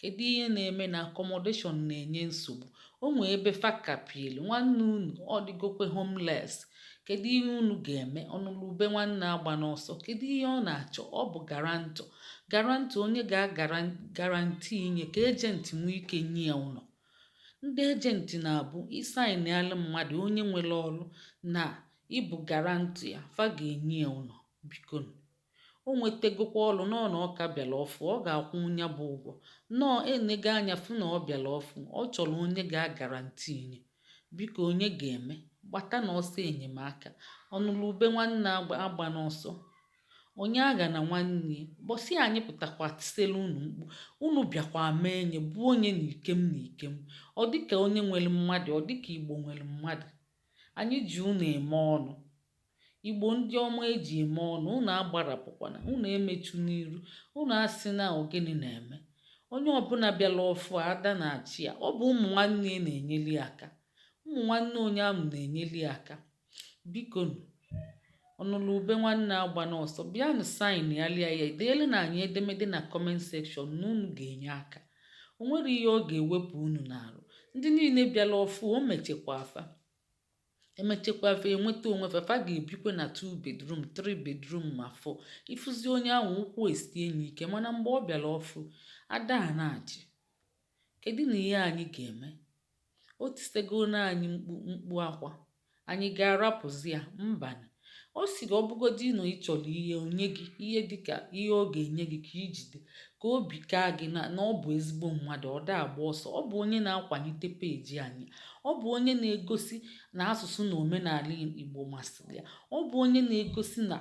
Kedu ihe na-eme na accommodation na-enye nsogbu? O nwee ebe fa kapielu, nwanne unu ọ dịgokwe homeless. Kedu ihe unu ga-eme? Ọnụlụ ube nwanne agbana ọsọ. Kedu ihe ọ na-achọ? Ọ bụ garantọ. Garantọ onye ga-agarantii nye ka ejenti nwee ike nye ya ụlọ. Ndị ejenti na-abụ ị saịnịalụ mmadụ onye nwere ọrụ na ị bụ garantọ ya, fa ga-enye ya ụlọ. Bikonu. o nwetegokwa ọlụ nọọ na ọ ka bịara ọfụ, ọ ga-akwụnwu ya bụ ụgwọ. Nọọ e nego anya fụ na ọ bịara ọfụ, ọ chọrọ onye ga-agarantii ya. Biko onye ga-eme? Gbatanụ ọsọ enyemaka. Ọnụlụ ube nwanne agbana ọsọ. Onye aghana nwanne ya. Bọsị anyị pụtakwa tiselu unu mkpu. Unu bịakwa a ma onye bụ onye n'ike m n'ike m. Ọ dịka onye nwere mmadụ, ọ dịka Igbo nwere mmadụ. Anyị ji unu eme ọnụ. Igbo ndị ọma e ji eme ọnụ, unu agbarapụkwana, unu emechuna iru, unu asịna ọ gịnị na-eme. Onye ọbụla bịara ọfụ, ada na-achị ya. Ọ bụ ụmụ nwanne ya na-enyeli ya aka. Ụmụ nwanne onye ahụ na-enyeli ya aka. Biko nụ, ọnụlụ ube nwanne agbana ọsọ, bịanụ saịnịalụ ya, deelunụ anyị edemede na comment section na unu ga-enye aka. O nwerọ ihe ọ ga-ewepụ unu n'arụ. Ndị niile bịara ọfụ, emechekwa fa. emechekwa fa enweta onwe fa fa ga-ebikwe na two bedroom three bedroom ma four ị fụzi onye ahụ ụkwụ esie nye ike mana mgbe ọ bịara ọfụ ada a na-achị kedunụ ihe anyị ga-eme o tisego na anyị mkpu mkpu akwa anyị ga-arapụzi ya mbanụ Ọ sịrị, Ọ bụgodị na ị chọrọ ihe, o nye gị ihe dị ka ihe ọ ga-enye gị ka i jide ka obi kaa gị na ọ bụ ezigbo mmadụ, ọ da agba ọsọ. Ọ bụ onye na-akwalite peeji anyị. Ọ bụ onye na-egosi na asụsụ na omenala Igbo masịrị ya. Ọ bụ onye na-egosi na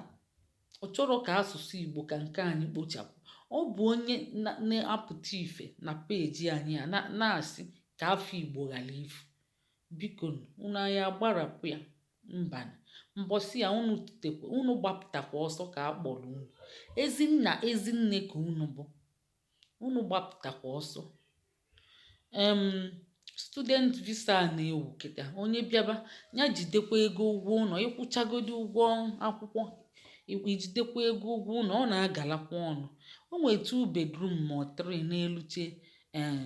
ọ chọrọ ka asụsụ Igbo ka nke anyị kpochapụ. Ọ bụ onye na-apụta ife na peeji anyị a na-asị ka afa Igbo ghara ifu. Bikonu, unu anyị agbarapụ ya? Mbanụ. Mbọsị ya unu, unu gbapụtakwa ọsọ ka a kpọrọ unu. Ezi nna, ezi nne ka unu bụ. Unu gbapụtakwa ọsọ. Em, student visa a na-ewu kịta. Onye bịaba, ya jidekwa ego ụgwọ ụnọ. Ị kwụchagodi ụgwọ akwụkwọ, i jidekwa ego ụgwọ ụnọ, ọ na-agalakwa ọnụ. O nwere two bedroom ma ọ three n'eluche eh,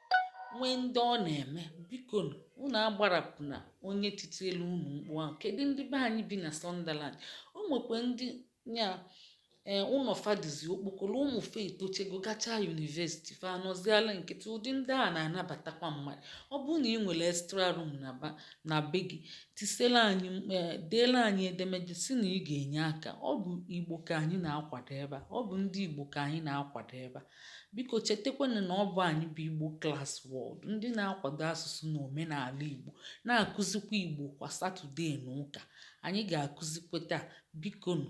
nwee ndị ọ na-eme biko nụ unu agbarapụna onye titielu unu mkpu ahụ kedu ndị be anyị bi na Sunderland o nwekwa ndị nya ee ụnọ fa dịzi okpokoro ụmụ fa etochego gachaa university fa anọziala nkịtị ụdị ndị a na-anabatakwa mmadụ ọ bụrụ na ị nwere extra room na be gị tis deela anyị edemede sị na ị ga-enye aka ọ bụ igbo ka anyị na-akwado ebe a ọ bụ ndị igbo ka anyị na-akwado ebe a Biko chetakwanụ na ọ bụ anyị bụ Igbo Class World, ndị na-akwado asụsụ na omenala Igbo, na-akụzikwa Igbo kwa Satọdee na ụka. Anyị ga-akụzikwa taa. Bikonu.